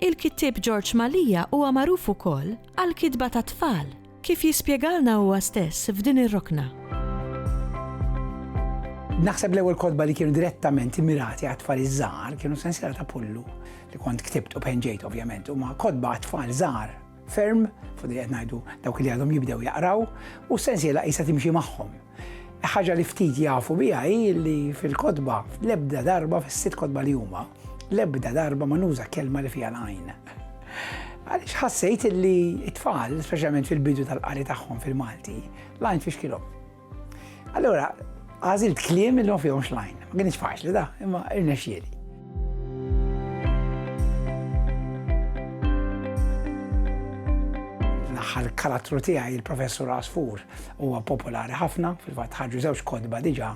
Il-kittieb George Malia huwa magħruf ukoll għall-kitba tat-tfal, kif jispjegalna huwa stess f'din ir-rokna. Naħseb l-ewwel kotba li kienu direttament immirati għat-tfal iż-żgħar kienu sensiela ta' Pullu li kont ktibt u penġejt ovvjament huma kotba għat-tfal żgħar ferm, fodi qed ngħidu dawk li għadhom jibdew jaqraw, u sensiela qisha timxi magħhom. Ħaġa li ftit jafu biha hi li fil-kotba, l-ebda darba fis-sitt kotba li huma, l-ebda darba ma nuża kelma li fiha l-għajn. Għaliex ħassejt li t-tfal, speċjalment fil-bidu tal-qari tagħhom fil-Malti, l-għajn fixkilhom. Allora, għażilt kliem li ma fihomx l-għajn. Ma kienx faċli da, imma irnexxieli. l-aħħar karattru tiegħi il-Professur Asfur huwa popolari ħafna, fil-fatt ħarġu żewġ kodba diġà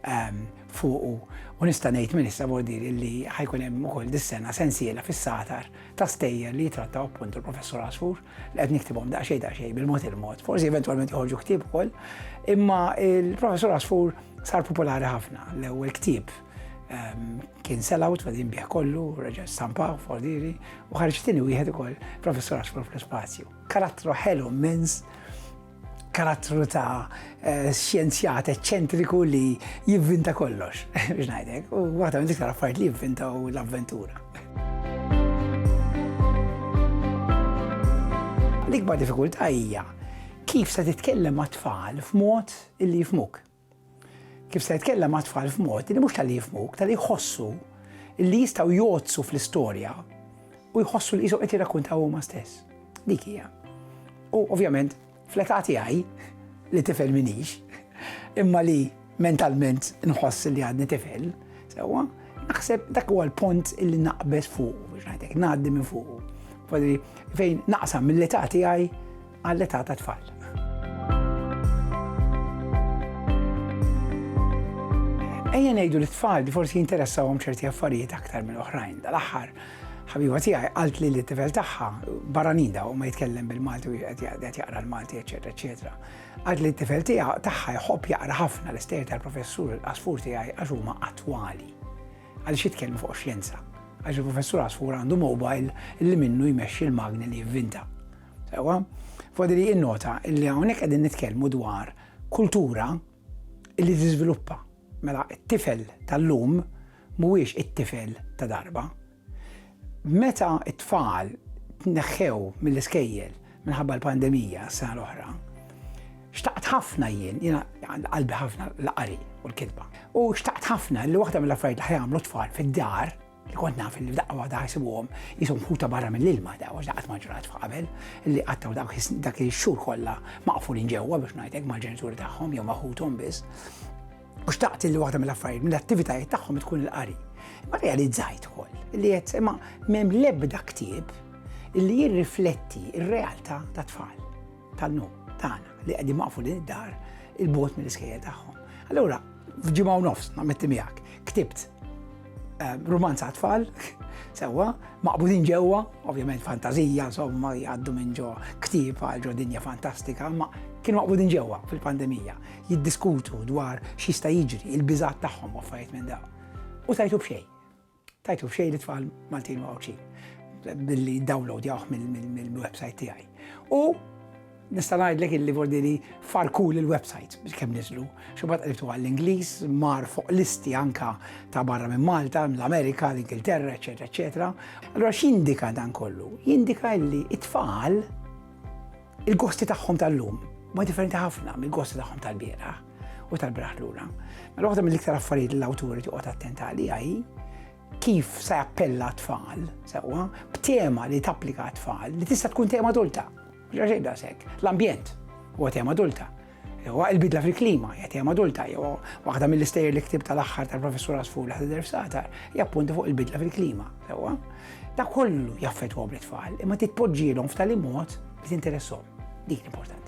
ehm, fuqu u nista' ngħid minn issa bordiri li ħajkun hemm ukoll dis-sena sensiela fis-satar ta' stejjer li jitrattaw appunt il-Professur Asfur li qed niktibhom daqsxejn daqsxejn bil-mod il-mod. Forsi eventwalment joħorġu ktieb ukoll, imma il-Professur Asfur sar popolari ħafna l-ewwel ktieb kien sell-out għad jinbieħ kollu, reġa stampaw, fordiri, u ħarġtini wieħed ukoll professor għaxfur fl-spazju. Karattru ħelu mens, karattru ta' eh, xjenzjat eċċentriku li jivvinta kollox, biex ngħidek, u waħda minn diktar affarijiet li jivvinta u l-avventura. L-ikbar diffikultà hija kif se titkellem ma' tfal f'mod illi jifmuk. Kif se jitkellem mat-tfal f'mod li mhux talli jifhmuk, talli jħossu li jistgħu jgħoddsu fl-istorja u jħossu li qishom qed jirrakkuntaw huma stess. Dik hija. U ovvjament, fl-età tiegħi li tifel minix, imma li mentalment nħoss li għadni tifel, sewwa, naħseb dak huwa l-punt illi naqbeż fuq, biex ngħidlek, ngħaddi minn fuq. Fejn naqsam mill-età tiegħi għall-età tat-tfal. Ejja ngħidu li t-tfal li forsi jinteressawhom ċerti affarijiet aktar minn oħrajn. Dal-aħħar ħabiba tiegħi qalt li l-tifel tagħha barranin daw ma jitkellem bil-Malti u qed jaqra l-Malti, eċetera, eċetera. Qalt li t-tifel tiegħha tagħha jħobb jaqra ħafna l-istejjer tal-professur Asfur tiegħi għax huma attwali. Għaliex jitkellmu fuq xjenza. Għax il-professur Asfur għandu mobile li minnu jmexxi l-magni li jivvinta. Ewa, fodi li innota li hawnhekk qegħdin nitkellmu dwar kultura li tiżviluppa. Mela t-tifel tal-lum mhuwiex it-tifel ta' darba. Meta t-tfal tneħħew mill-iskejjel minħabba l-pandemija s-sena l-oħra, xtaqt ħafna jien, jiena qalbi ħafna l-qari u l-kitba. U xtaqt ħafna li waħda mill-affarijiet li ħajamlu tfal fid-dar li kont naf li daqqa waħda ħajsibuhom jisom ħuta barra mill-ilma da, għax daqqat maġrat f'qabel, li qattaw dak il-xur kollha maqfulin ġewwa biex ngħidlek mal-ġenituri tagħhom jew ma' ħuthom biss. U xtaqt li waħda mill-affarijiet mill-attivitajiet tagħhom tkun il-qari. Ma realizzajt ukoll li qed imma m'hemm l-ebda ktieb li jirrifletti r-realtà ta' tfal tal-lum tagħna li qegħdin maqfu din id-dar il-bot mill-iskejja tagħhom. Allura, f'ġimgħa u nofs, nammetti miegħek, ktibt Ehm, Rumanza għatfall, sewa, maqbudin ġewwa, ovvjament fantazija, insomma, jgħaddu minn ġo ktib għal ġo dinja fantastika, ma kienu maqbudin ġewwa fil-pandemija, jiddiskutu dwar xista jiġri, il-bizat tagħhom affarijiet minn daw. U tajtu bxej. Tajtu bxej li tfal Maltin u Għawċin billi download jawħ mill-website tiegħi. U Nista' ngħidlek illi vordi li farkul il-website biex kemm niżlu. Xubad qribtu għall-Ingliż, mar fuq listi anka ta' barra minn Malta, l-Amerika, l-Ingilterra, eċetera, eċetera. Allora x'jindika dan kollu? Jindika illi it-tfal il-gosti tagħhom tal-lum ma differenti ħafna mill-gosti tagħhom tal-biera u tal-braħ lura. Mela waħda mill-iktar affarijiet l-awturi toqgħod attenta għalija hi kif se appella tfal, sewwa, b'tema li tapplika tfal li tista' tkun tema adulta. Mhux għax qiegħda s'hekk. L-ambjent huwa tema adulta. Huwa il-bidla fil-klima hija tema adulta. Jew waħda mill-istejjer li ktib tal-aħħar tal-Professur Asfur li ħadidher f'satar hija appunti fuq il-bidla fil-klima. Sewwa? Da kollu jaffettwa bl-itfal imma titpoġġielhom f'tali mod li tinteressom. Dik l-importanti.